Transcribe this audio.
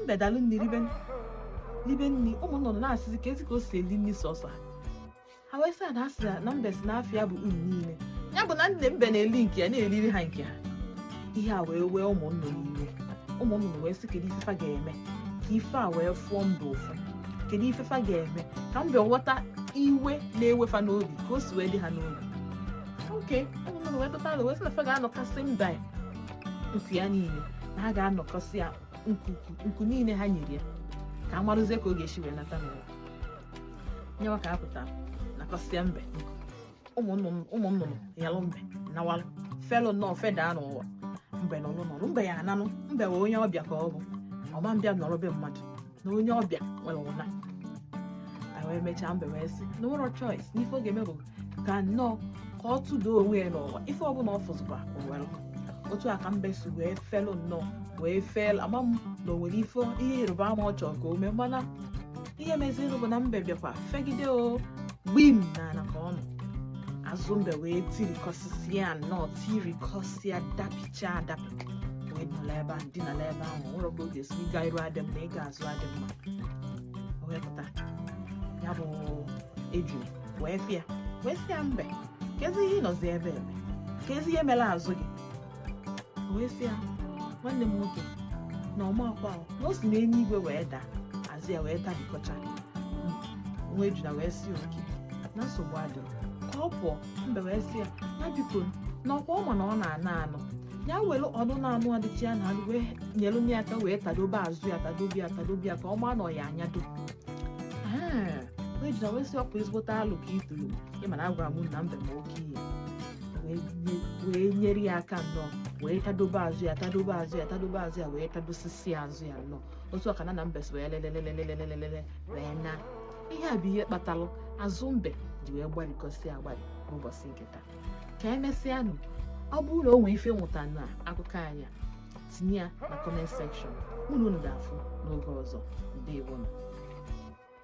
mbe dalụ nri ribe ribe nri ụmụ nnụnụ na-asịzi kezi ka o si eli nri sọsọ ha ha wee sị na asị na mbe sị n'afa ya bụ unu niile ya bụ na nna mbe na-eli nke ya na-eriri ha nke ha ihe a wee wee ụmụ nnụnụ iwe ụmụ nnụnụ wee sị kedu ife fa ga-eme ka ife a wee fụọ mbe ụfụ kedu ife fa ga-eme ka mbe ghọta iwe na-ewe fa n'obi ka o si wee dị ha n'obi okay ụmụ nnụnụ wee tụta alo wee sị na fa ga-anakọsị mbe ya nku ya niile na ha ga-anakọsị ya nku niile ha nyere ya ka a marụzie ka ọ ga-esi wee nata n'ụwa nyewa ka a pụta nakọsịa mbe ụmụ nnụnụ yalụ mbe nawalụ felụ nnọọ fedaa n'ụwa mbe nọlụ nọlụ mbe ya-ananụ mbe wee onye ọbịa ka ọ bụ ọ ma-abịa nọrọ be mmadụ na onye ọbịa nwere ụna anyị wee mechaa mbe wee sị na o nwerọ choice n'ife ọ ga-eme bụ ka nnọọ ka ọ tụda onwe ya n'ụwa ife ọbụla ọ fụzikwa o were otu a ka mbe si wee felụ nnọọ wee fel ama m na o nwere ife ihe ịrịba ama ọ chọrọ ka o mee mana ihe mezirinụ bụ na mbe bịakwa fegide o gbim na ala ka ọ nọ azụ mbe wee tirikọsịsịa nnọọ tirikọsịa dapịcha adapị wee nọlụ ebe ahụ dinalụ ebe ahụ o nwerọ ka ọ ga-esi ịga iru adịrọ mma ịga azụ adịrọ mma o wee pụta ya bụ eju wee fụ ya wee sị ya mbe kezi ihe ị nọzi ebe a eme kezi ihe mere azụ gị o wee sị ya nwanne m nwoke na ọma akwa ahụ na o si n'enu igwe wee daa azụ ya wee tabikọcha nwa ejuna wee sị okay na nsogbu adịrọ ka ọ pụọ mbe wee sị ya ya biko na ọkwa ọ ma na ọ na-ana anụ ya were ọnụ na-anụ adịchi ya na anụ wee nyere m ya aka wee tadobe azụ ya tadobe ya tadobe ya ka ọ maa na ọ ya-anyado Ee, nwa ejuna wee sị ọkwa ezigbote alo ka ị tụrụ ị ma na agwara m na mbe ma oke ihe wee nye- wee nyere ya aka nnọọ wee tadobe azụ ya tadobe azụ ya tadobe azụ ya wee tadosisi azụ ya nnọọ otu a ka nna mbe si wee lelelelelelelelele wee na ihe a bụ ihe kpatalụ azụ mbe ji wee gbarikọsịa agbari n'ụbọchị nke taa ka emesịanụ ọ bụrụ na o nwee ife ị mụta na akụkọ anyị a tinye ya na comment section unu ga-afụ n'oge ọzọ ndewonụ